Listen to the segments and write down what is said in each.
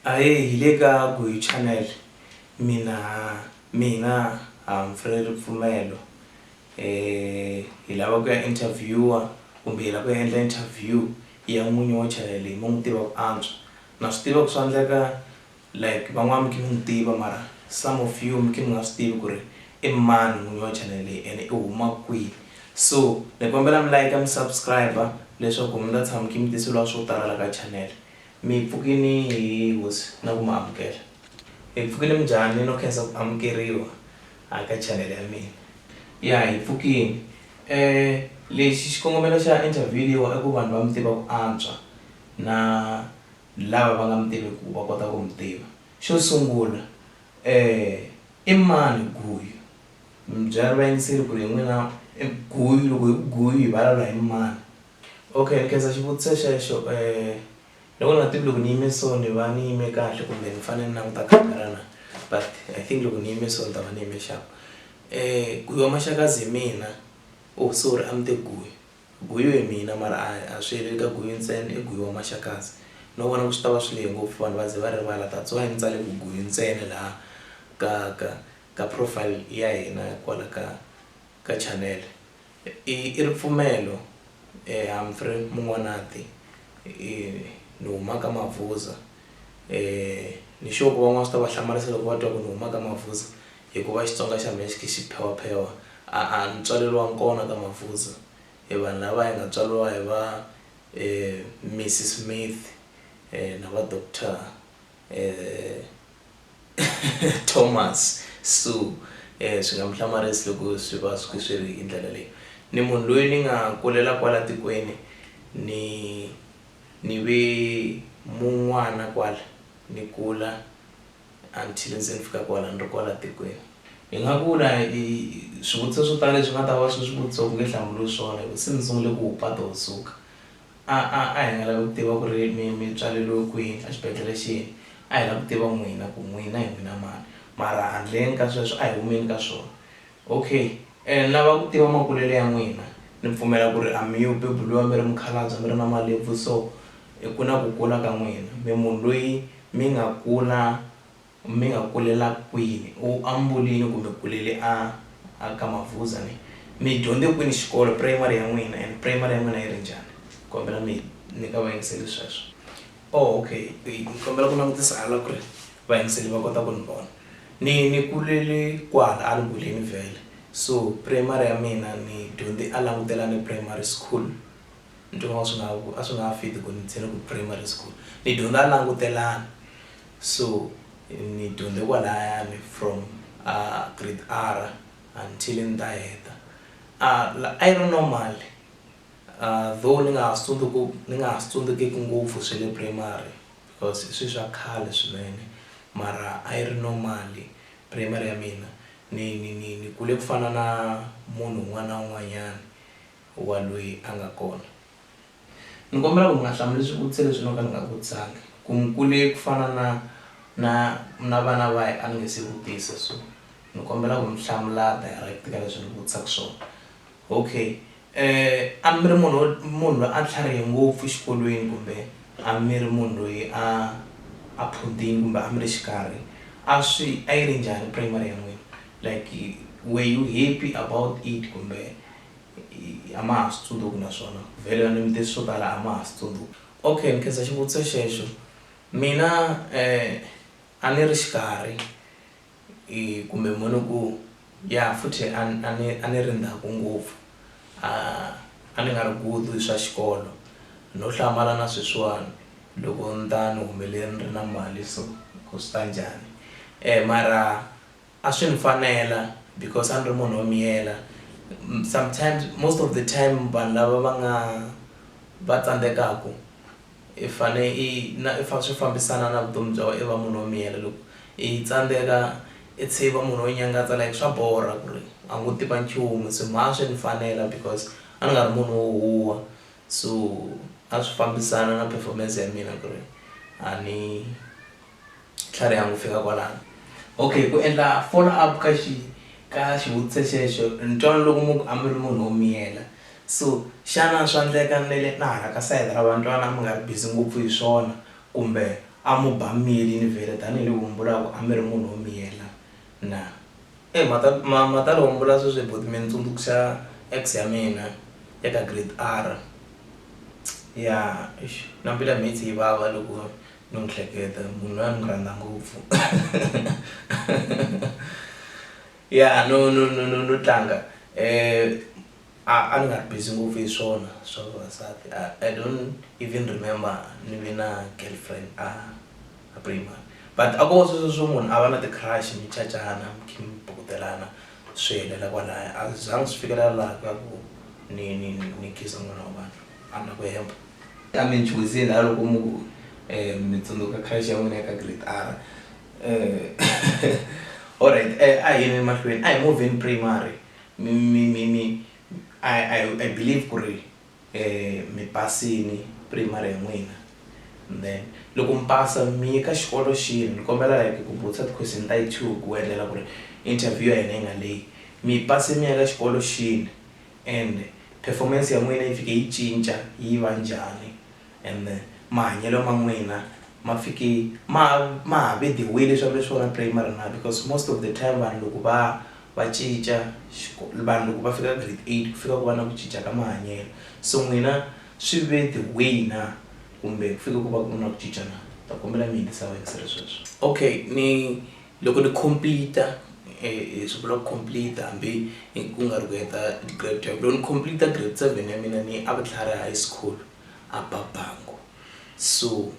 Ahee hi le ka Guy Channel mina mina Humphrey Ripfumelo hi lava ku ya interviewer kumbe hi lava ku ya endla interview ya n'winyi wa channel leyi mi n'wi tiva ku antswa na swi tiva ku swa endleka like van'wana mi khe mi n'wi tiva mara some of you mi khe mi nga swi tivi ku ri i mani n'winyi wa channel leyi ene i huma kwihi so ni kombela mi like mi subscribe leswaku mi ta tshama mi khe mi tiseliwa swo tala la ka channel Mi pfukini hi Hosi na ku mi amukela. Mi pfukile minjhani no khensa ku amukeriwa a ka chanele ya mina. Ya hi pfukini. E lexi xikongomelo xa interview leyiwa i ku vanhu va mi tiva ku antswa na lava va nga mi tiveku va kota ku mi tiva. Xo sungula e i mani Guyu? Mi byela vayingiseri ku ri hi n'wina Guyu loko hi ku Guyu hi valawula hi mani? Okay ni khensa xivutiso xexo ni vona ni nga tivi loko ni yime so ni va ni yime kahle kumbe ni fanele ni languta camera na but I think loko ni yime so ni ta va ni yime xap Guyu wa Maxakadzi hi mina oh sorry a ni te Guyu Guyu hi mina mara a swi heleli ka Guyu ntsena i Guyu wa Maxakadzi no vona ku swi tava swi lehe ngopfu vanhu va ze va rivala that's why ni tsale ku Guyu ntsena laha ka ka ka profile ya hina kwala ka ka channel. I i ripfumelo e Humphrey Mun'wanati i ni huma ka Mavhuza e ni sure ku van'wana swi ta va hlamarisa loko va twa ku ni huma ka Mavhuza hikuva Xitsonga xa mehe xi khe xi phewaphewa a a ni tswaleriwanga kona ka Mavhuza e vanhu lava hi nga tswariwa hi va e Mrs Smith na va Doctor . Thomas, Sue, e swi nga mi hlamarisi loko swi va swi swi ri hi ndlela leyi. Ni munhu loyi ni nga kulela kwala tikweni, ni ni ve mun'wana kwala, ni kula until se ni fika kwala ni ri kwala tikweni. Hi nga vula hi swivutiso swo tala leswi nga ta va swi swi vutisiwa ku nge hlamuriwi swona hi ku se ni sungule ku hupa to suka. A, a, a hi nga lavi ku tiva ku ri mi, mi tswaleriwe kwihi, a xibedlhele xihi. A hi lavi ku tiva n'wina ku n'wina hi n'wina mani. Mara handleni ka sweswo, a hi humeni ka swona. OK. Ene ni lava ku tiva makulele ya n'wina. Ni pfumela ku ri a mi yo beburiwa mi ri mukhalabye, a mi ri na malebvu so. Ku na ku kula ka n'wina. Mi munhu loyi mi nga kula. Mi nga kulela kwini? U ambulini kumbe kulele a a ka Mavhuza ne? Mi dyondze kwini xikolo, primary ya n'wina and primary ya n'wina yi ri njhani? Kombela mi nyika vayingiseli sweswo. Oh ok, ni kombela ku langutisa hala ku ri vayingiseli va kota ku ni vona. Ni ni kulele kwala a Lungweleni vhele so primary ya mina ni dyondze a Langutelani Primary School. Ntirho a swi nga a swi nga fit ku ni tshene ku primary school ni dyondza a langutelana so ni dyondze kwalayani from a grade R until ni ta heta a a yi ri normal though ni nga ha swi tsundzuki ni nga ha swi tsundzukeki ngopfu swa le primary because i swilo swa khale swinene mara a yi ri normal primary ya mina ni ni ni ni kule ku fana na munhu un'wana na un'wanyana wa loyi a nga kona. Ni kombela ku mi nga hlamuli swivutiso leswi no ka ni nga vutisanga, ku ni kule ku fana na na na vana va a ni nge se vutisa so ni kombela ku mi hlamula direct ka leswi ni vutisaka swona. Okay a mi ri munhu munhu loyi a tlharihe ngopfu xikolweni kumbe a mi ri munhu loyi a a phunthini kumbe a mi ri xikarhi a swi a yi ri njhani primary ya n'wina like where you happy about it kumbe a ma ha swi tsundzuki naswona vhele ni vutisa swo tala a ma ha swi tsundzuki okay ni khensa xivutiso xexo mina a ni ri xikarhi kumbe mo ni ku ya futhi a ni a ni a ni ri ndzhaku ngopfu a a ni nga ri good hi swa xikolo no hlamala na sweswiwani loko ni ta ni humelele ni ri na mali so ku swi ta njhani mara. A swi ni fanela because a ni ri munhu wo miyela. Sometimes, most of the time vanhu lava va nga va tsandzekaku i fane i na i swi fambisana na vutomi bya wena i va munhu wo miyela. Loko i tsandzeka i tshe i va munhu wo nyangatsa like swa borha ku ri a ngo tiva nchumu se mara a swi ni fanela because a ni nga ri munhu wo huha so a swi fambisana na performance ya mina ku ri a ni. tlhariha ku fika kwalano. Okay, ku endla follow up ka xi ka xivutiso xexo ni twa ni loko munhu a mi ri munhu wo miyela so xana swa endleka ni vele na hala ka sayiti ra vantwana mi nga ri busy ngopfu hi swona kumbe a mo ba mili ni vele tanihiloko mi vula ku a mi ri munhu wo miyela na. Eyi ma ta ma ma ta loko mi vula sweswo buti mi ni tsundzuxa ex ya mina ya ka grade R ya eish na mbilu ya mina yi tlhe yi vava loko. no hleketa munhu loyi a ni rhandza ngopfu ya no no no no no tlanga um a a ni nga ri busy ngopfu hi swona swa vavasati a I don't even remember ni ve na girlfriend a a primary but a ko va sweswo swo munhu a va na ti-crush mi cacana mi kha mi bukutelana swi helela kwalaya a swi zanga swi fikelela laha ka ku ni ni ni khensa n'wana wa vanhu. a na ku hemba. Ta mi nchuhiseni ha loko mu ku, eh, mi tsundzuka khale xa n'wina eka grade R. Eh, alright, eh, a hi yeni emahlweni. A hi movheni primary. Mi, mi, mi, mi, I, I, I believe ku ri, eh, mi pasini primary ya n'wina. Then, loko mi pasa, mi ye ka xikolo xihi? Ni kombela like ku vutisa ti-question ta yi two ku endlela ku ri interview ya hina yi nga lehi. Mi pase mi ya ka xikolo xihi? and performance ya n'wina yi fike yi cinca yi va njhani and mahanyelo ma n'wina ma fike ma ma ha ve the way leswi a mi ri swona primary na because most of the time vanhu loko va va cinca vanhu loko va fika ka grade eight ku fika ku va na ku cinca ka mahanyelo so n'wina swi ve the way na kumbe ku fike ku va ku ri na ku cinca na ta kombela mi yingisa va yingisela sweswo okay ni. Loko ni complete hi swi vula ku complete hambi ku nga ri ku heta grade twelve loko ni complete grade seven ya mina ni a vutlhari high school a babangu so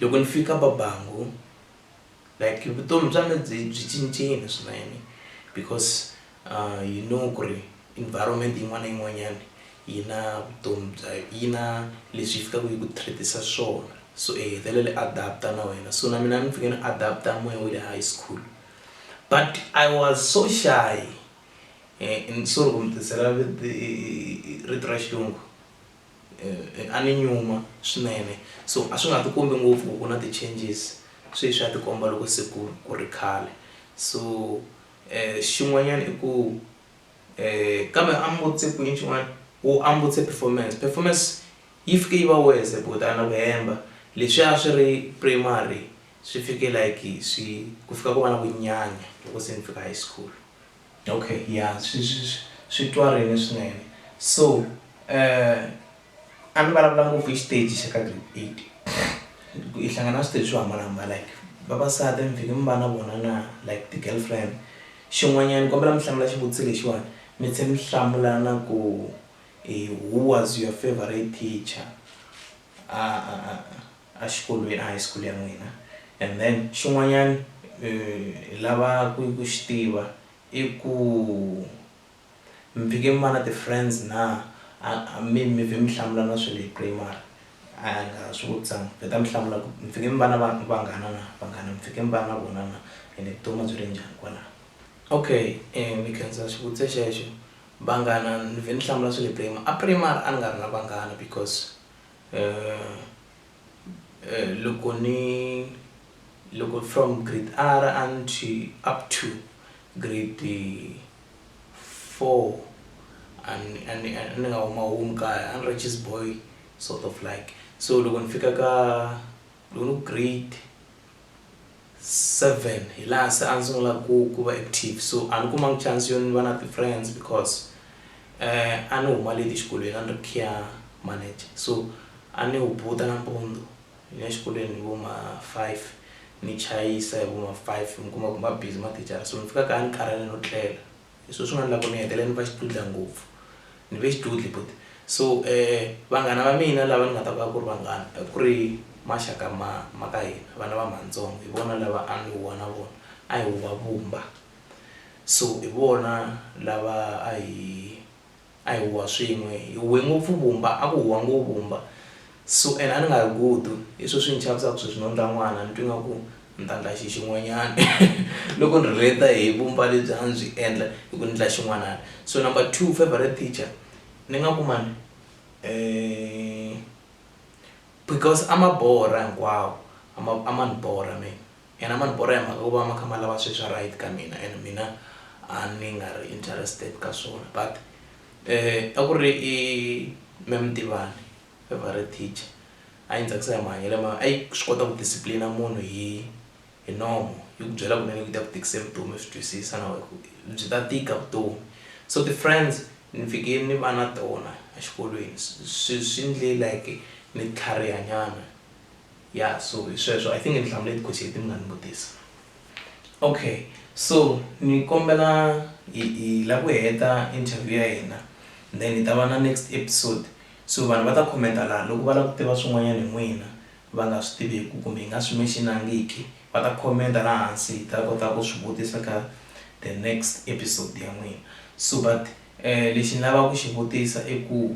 loko ni fika babangu like vutomi bya mina byi byi cincile swinene because A hi know ku ri environment yin'wana na yin'wanyana yi na vutomi bya yi na leswi yi fikaka yi ku treat-isa swona so i hetelele adapt-a na wena so na mina ni fike ni adapt-a moya wa le high school but I was so shy and sorry ku mi tisela rito ra xilungu a ni nyuma swinene so a swi nga ti kombi ngopfu ku ku na ti-changes sweswi ya tikomba loko se ku ku ri khale so. Xin'wanyana i ku kambe ambutse ku yini xin'wana u ambutse performance performance yi fike yi va worse ku ta na ku hemba leswi a swi ri primary swi fike like swi ku fika ku va na ku nyanya loko se ni fika high school. Okay ya swi swi swi twarini swinene so . A ni vulavula ngopfu hi xiteji xa ka grade eight ku i hlangana na switeji swo hambanahambana like vavasati mi fike mi va na vona na like ti-girlfriend xin'wanyana ni kombela mi hlamula xivutiso lexiwani mi tlhe mi hlamula na ku who was your favourite teacher a a a a xikolweni a high school ya n'wina and then xin'wanyana hi lava ku ku xi tiva i ku. Mi fike mi va na ti friends na? A mi mi vhe mi hlamula na swilo hi primary? A hi nga swi vutisanga, beta mi hlamula ku mi fike mi va na va vanghana na? Vanghana mi fike mi va na vona na ende vutomi a byi ri njhani kwalano? Okay ni khensa xivutiso xexo, vanghana ni vhe ni hlamula swi le primary, a primary a ni nga ri na vanghana because loko ni loko from grade R until up to grade. four a ni a ni a ni nga huma home kaya a ni ri cheese boy sort of like so loko ni fika ka loko ni ku grade seven hi laha se a ni sungula ku ku va active so a ni kumanga chance yo ni va na ti-friends because a ni huma leti exikolweni a ni ri khiya manager so a ni hubuta nampundzu. Ni ya xikolweni hi vo ma five ni chayisa hi vo ma five mi kuma ku ma busy mathicara so ni fika kaya ni karhele no tlela hi swo swi nga endla ku ni hetelela ni va xidudla ngopfu ni ve xidudla buti so vanghana va mina lava ni nga ta vulaka ku ri vanghana a ku ri maxaka ma ma ka hina vana va matsongo hi vona lava a ni huwa na vona a hi huwa vumba so hi vona lava a hi. a hi huwa swin'we hi huwe ngopfu vumba a ku huwa ngo vumba so and a ni nga ri gudu hi swo swi ni chavisaka sweswi no ndla n'wana ni twi nga ku ni ta ndla xi xin'wanyana loko ni relate hi vumba lebyi a ni byi endla hi ku ni ndla xin'wanana so number two favorite teacher ni nga ku mani um because a ma borha hinkwawo a ma a ma ni borha mina. Yena mani borha hi mhaka ku va ma kha ma lava swi swa right ka mina and mina a ni nga ri interested ka swona but a ku ri i me Mtivani favorite teacher a yi ni tsakisa hi mahanyelo ma a yi swi kota ku discipline munhu hi hi nomo yi ku byela kunene ku ta ku tikise vutomi swi twisisa na wehe ku byi ta tika vutomi so ti friends ni fike ni va na tona exikolweni swi swi ndle like ni tlhariha nyana. Yeah so hi sweswo I think ni hlamule tiphothsi leti mi nga ni vutisa. Okay so ni kombela hi hi la ku heta interview ya hina then hi ta va na next episode so vanhu va ta comment-a laha loko va lava ku tiva swin'wanyana hi n'wina va nga swi tiveku kumbe hi nga swi mention-angiki va ta comment-a la hansi hi ta kota ku swi vutisa ka the next episode ya n'wina so but lexi ni lava ku xi vutisa i ku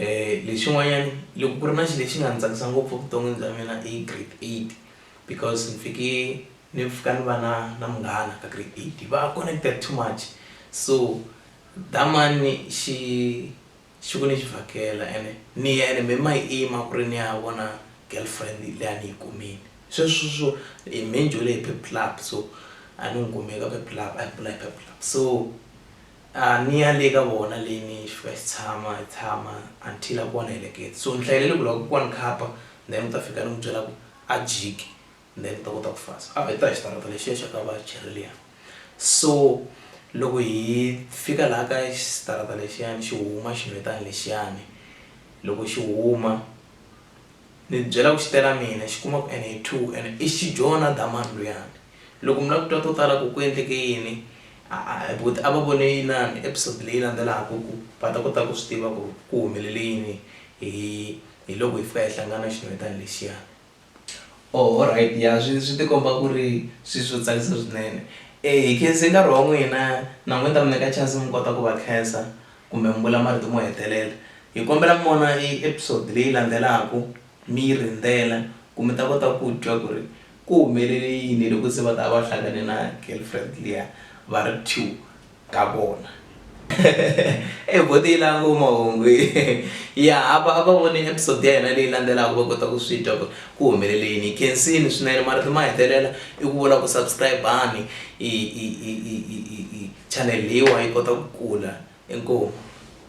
Lexin'wanyana loko ku ri na xilo lexi nga ndzi tsakisa ngopfu evuton'wini bya mina i grade eight because ndzi fike ni fika ni va na na munghana ka grade eight hi va connected too much so that money xi xi ku ni xi vhakela ene ni ya ene me ma yima ku ri ni ya vona girlfriend leyi a ni yi kumile sweswo swo hi me ni dyondzile hi pep club so a ni n'wi kumile ka pep club a hi bula hi pep club so. a ni ya le ka vona leyi ni xi fika xi tshama hi tshama until a ku wa ni heleketa so ni hlayelele ku loko ku wa ni khapa then u ta fika ni n'wi byela ku a jiki then u ta kota ku fasa a hi ta hi xitarata lexiya xa ka vacheri liya so loko hi fika laha ka xitarata lexiyani xi huma xinhwetani lexiyani loko xi huma ni byela ku xi tela mina xi kuma ku ene hi two ene i xi jona damani luyani Loko mi lava ku twa to tala ku ku endleke yini, a a hi buti a va vone yinani episode leyi landzelaka ku va ta kota ku swi tiva ku ku humelele yini hi hi loko hi fika hi hlangana xinhwetana lexiya. Oh alright ya swi swi tikomba ku ri swi swo tsakisa swinene. E hi khense nkarhi wa n'wina na n'wina ni ta mi nyika chance mi kota ku va khensa kumbe mi vula marito mo hetelela. Hi kombela mi vona e episode leyi landzelaka. Mi yi rindzela ku mi ta kota ku twa ku ri ku humelele yini loko se va ta va va hlangane na girlfriend liya va ri two ka vona. Eyi buti yi lava ngopfu mahungu yi. Ya a va a va vone episode ya hina leyi landzelaka va kota ku swi twa ku ku humelele yini. Hi khensini swinene marito ma hetelela i ku vula ku subscribe-ani channel leyiwa yi kota ku kula. Inkomu.